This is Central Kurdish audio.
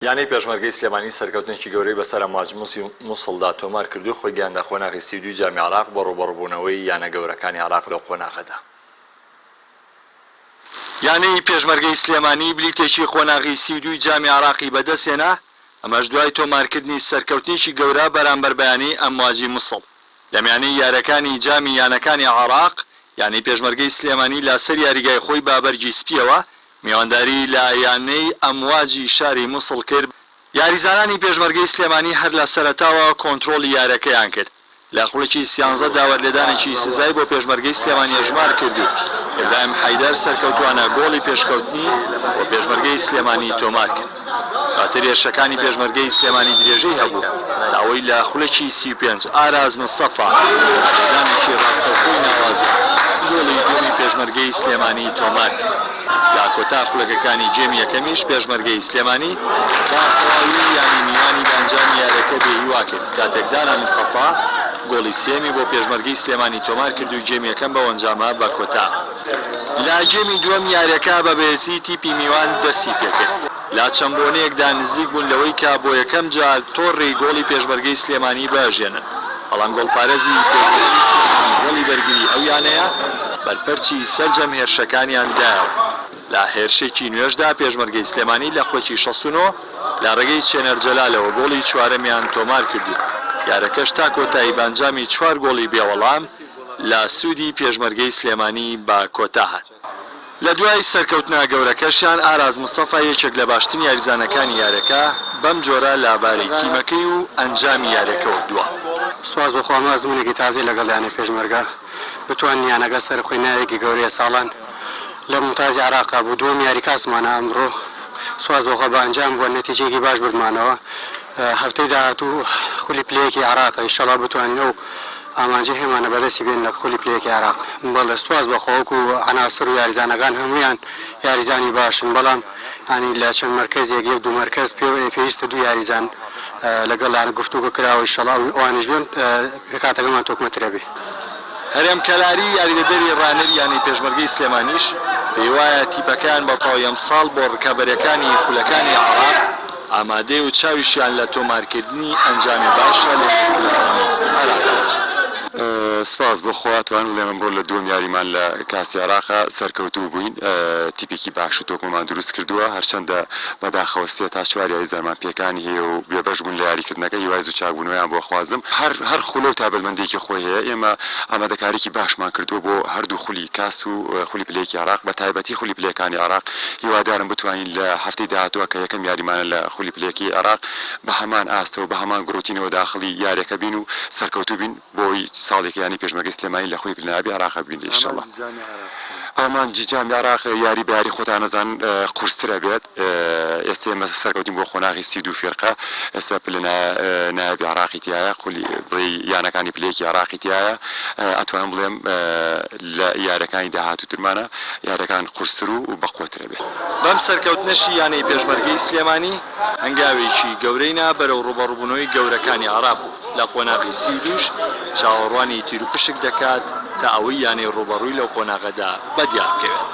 یانەی پێشمەرگەی سلێمانی سەرکەوتنێکی گەورەی بەسەر ئەمواج موسی موسڵدا تۆمار کردو خۆی گەیاندە قۆناغی سی و دووی جامی عێراق بۆ ڕووبەڕووبوونەوەی یانە گەورەکانی عێراق لەو قۆناغەدا. یانەی پێشمەرگەی سلێمانی بلیتێکی قۆناغی سی و دووی جامی عێراقی بەدەستهێنا، ئەمەش دوای تۆمارکردنی سەرکەوتنێکی گەورە بەرامبەر بە یانەی ئەمواجی موسڵ لەمیانەی یارەکانی جامی یانەکانی عێراق، یانەی پێشمەرگەی سلێمانی لاسەر یاریگای خۆی بە بەرگی سپییەوە میوانداری لە یانەی ئەمواجی شاری موسڵ کرد، یاریزانانی پێشمەرگەی سلێمانی هەر لە سەرەتاوە کۆنترۆڵی یارەکەیان کرد، لە خولەکی سیانزە دا وەرلێدانێکی سزای بۆ پێشمەرگەی سلێمانی ئەژمار کرد و ئیبراهیم حەیدەر سەرکەوتووانە گۆڵی پێشکەوتنی بۆ پێشمەرگەی سلێمانی تۆمار کرد. ئەتەریەشەکانی پێشمەرگەی سلێمانی درێژەی هەبوو تا ئەوەی لە خولەکی سی و پێنج ئاراز مستەفا بە ئیعلامێکی ڕاستەوخۆی ناوازە گۆڵی دووەمی پێشمەرگەی سلێمانی تۆمار کرد. لە کۆتا خولەکەکانی گێمی یەکەمیش پێشمەرگەی سلێمانی بە تەواوی یانی میوانی بە ئەنجامی یاریەکە بێ هیوا کرد کاتێک دانا مستەفا گۆڵی سێیەمی بۆ پێشمەرگەی سلێمانی تۆمار کرد و گێمی یەکەم بەو ئەنجامە بە کۆتا لاگێمی دووەم یاریەکە بە بەێزی تیپی میوان دەستی پێکرد لە چەند بۆنەیەکدا نزیک بوون لەوەی کە بۆ یەکەم جار تۆڕی گۆڵی پێشمەرگەی سلێمانی بەژێنن بەڵام گۆڵپارێزی پێشمەرگەی سلێمانی گۆڵی بەرگری ئەو یانەیە بەرپەرچی سەرجەم هێرشەکانیان دایەوە لە هێرشێکی نوێشدا پێشمەرگەی سلێمانی لە خولەکی شەست و نۆ لە ڕێگەی چێنەر جەلالەوە گۆڵی چوارەمیان تۆمارکردو یارەکەش تا کۆتایی بەئەنجامی چوار گۆڵی بێوەڵام لە سوودی پێشمەرگەی سلێمانی بە کۆتا هات. لە دوای سەرکەوتنە گەورەکەشیان ئاراس مستەفا یەکێک لە باشترین یاریزانەکانی یارەکە بەم جۆرە لە بارەی تیمەکەی و ئەنجامی یارەکەوە دوا. سوپاس بۆ خوا ئەمە ئەزموونێکی تازەیە لەگەڵ یانەی پێشمەرگە بتوانین یانەکە سەربخەین ناوێکی گەورەیە ساڵان لە مومتازی عێراقا بوو دووەم یاری کاسمانە ئەمڕۆ سوپاس بۆ خوا بە ئەنجام بووە نەتیجەیەکی باش بردمانەوە هەفتەی داهاتوو خولی پلەیەکی عێراقە ئیشەڵا بتوانین ئەو ئامانجی هێمانە بەدەستی بێن لە پۆلی پلە یەکی عێراق. بەڵێ سوپاس بەخوا وەکو عەناسر و یاریزانەکان هەموویان یاریزانی باشن بەڵام یانی لە چەند مەرکەزێک یەک دوو مەرکەز پێ پێویستە دوو یاریزان لەگەڵیان گفتوگۆ کراوە ئیشەڵا ئەوانیش بێن پێکهاتەکەمان تۆکمەترە بێ. هەرێم کەلاری یاریدەدەری رانەری یانەی پێشمەرگەی سلێمانیش پێیوایە تیپەکەیان بەتەواوی ئەمساڵ بۆ رکابەریەکانی خولەکانی عێراق، ئامادەیە و چاویشیان لە تۆمارکردنی ئەنجامی باشە لە یارییەکانی عێراقدا. سپاس بۆ خوا توانم بڵێم ئەمڕۆ لە دووەم یاریمان لە کاسی عێراقا سەرکەوتوو بووین، تیپێکی باش و تۆکمەمان دروست کردووە، هەرچەندە بەداخەوە سێ تا چوار یاری زارمان پێکانی هەیە و بێبەش بوون لە یاریکردنەکە، هیوای زوو چاکبوونەوەیان بۆ ئەخوازم، هەر خولە و تایبەتمەندییەکی خۆی هەیە، ئێمە ئامادەکاریی باشمان کردووە بۆ هەردوو خولی کاس و خولی پلەیەکی عێراق، بەتایبەتی خولی پلەیەکانی عێراق، هیوادارم بتوانین. لە هەفتەی داهاتووە کە یەکەم یاریمانە لە خولی پلە یەکی عێراق بە هەمان ئاست و بە هەمان گڕوتینەوە داخڵی یاریەکە بین و سەرکەوتوو بین بۆی ساڵیکە یانی پێشمەرگەی سلێمانی لە خولی پلە نایابی عێراق بین ان شاءاللە ئامانجی جامی عێراق یاری بە یاری خۆتان ئەزان قورستر ئەبێت ئێستا ئێمە سەرکەوتین بۆ قۆناغی سی و دوو فیرقە ئێستا پلە نایابی عێراقی تیایە خولی بڵێ یانەکانی پلە یەکی عێراقی تیایە ئەتوانم بڵێم لە یاریەکانی داهاتوو ترمانە یاریەکان قورستر و بەقوەتر بەم سەرکەوتنەشی یانەی پێشمەرگەی سلێمانی هەنگاوێکی گەورەی نا بەرەو ڕووبەڕووبوونەوەی گەورەکانی عێراق و لە قۆناغی سی و دووش چاوەڕوانی تیروپشک دەکات تا ئەوەی یانەی ڕووبەڕووی لەو قۆناغەدا بەدیار بکەوێت.